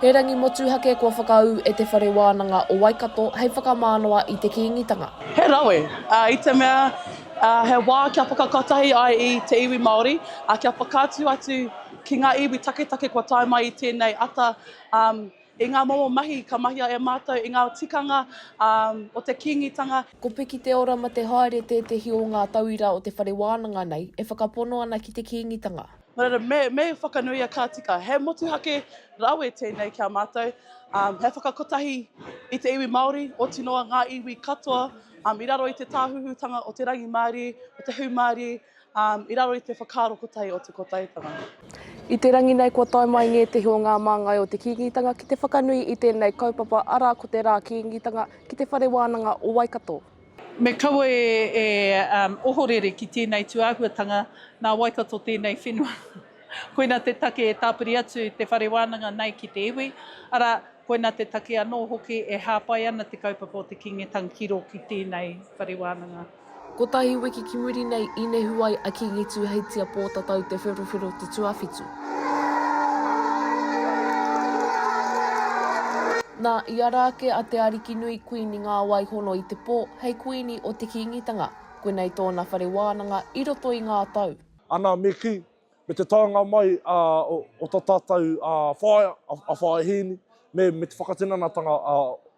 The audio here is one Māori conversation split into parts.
He rangi motuhake kua whakaū e Te Whare Wānanga o Waikato hei whakamānawa i te Kīngitanga. He rawe, i te mea, he wā kia whakakotahi ai i te iwi Māori, kia whakaatu atu ki ngā iwi taketake kua tae mai i tēnei ata, I ngā momo mahi ka mahia e mātou i ngā tikanga o te Kīngitanga. Ko Piki Te Ora ma te Haere tētehi o ngā tauira o te whare wānanga nei e whakapono ana ki te Kīngitanga. Nō reira, me whakanuia ka tika. He motuhake rawe tēnei ki a mātou, he whakakotahi i te iwi Māori, oti noa ngā iwi katoa i raro i te tāhuhutanga o te rangimārie, o te hūmārie, Ā, i raro i te whakaaro kotahi o te Kotaetanga. I te rangi nei kua tae mai ngētehi o ngā māngai o te Kīngitanga ki te whakanui i tēnei kaupapa arā ko te Rā Kīngitanga ki Te Whare Wānanga o Waikato. Me kaua e ohorere ki tēnei tūāhuatanga, nā Waikato tēnei whenua. Koina te take e tāpiri atu te whare wānanga nei ki te iwi, arā, koina te take anō hoki e hāpai ana te kaupapa o te Kīngitanga ki rō ki tēnei whare wānanga. Kotahi wiki ki muri nei, i nehu ai a Kingi Tūheitia Pōtatau Te Wherowhero te tuawhitu. Nā, i ara ake a Te Arikinui, Kuini Ngāwaihono i te pō, hei Kuini o te Kīngitanga. Koinei tōna whare wānanga i roto i ngā tau. Ana me kī, Me te taenga mai o ta tatou whaea, a Whaea Hiini, me te whakatinanatanga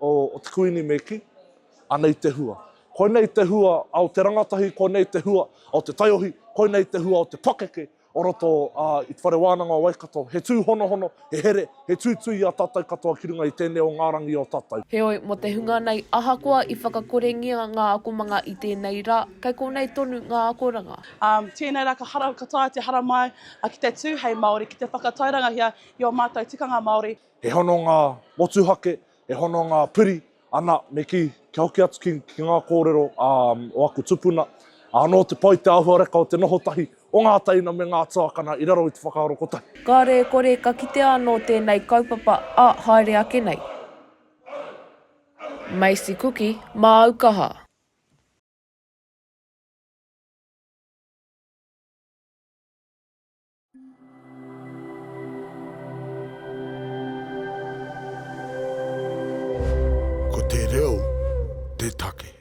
o te Kuini me ki, anei te hua. Koinei te hua o te rangatahi, koinei te hua o te taiohi, koinei te hua o te pakeke o roto i te Whare Wananga o Waikato. He tuhonohono, he here, He tūtū i a tātou katoa ki runga i tēnei o ngā rangi o tātou. Heoi, mō te hunga nei, ahakoa i whakakorengia ngā akomanga i tēnei rā, kei konei tonu ngā akoranga. Ā, tēnei rā ka hara, ka taea te haramai ki te tū hei Māori, ki te whakatairangahia i ō mātou tikanga Māori. He hononga motuhake, He hononga piri, ana, me kī, kia hoki atu ki, ki ngā kōrero ā, o aku tupuna, anō te pai te āhuareka o te noho tahi o ngā teina me ngā tuakana i raro i te whakaaro kotahi. Kāore e kore ka kitea anō tēnei kaupapa ā haere ake nei. Macy Kuki, Māu kaha. Ko te reo te take.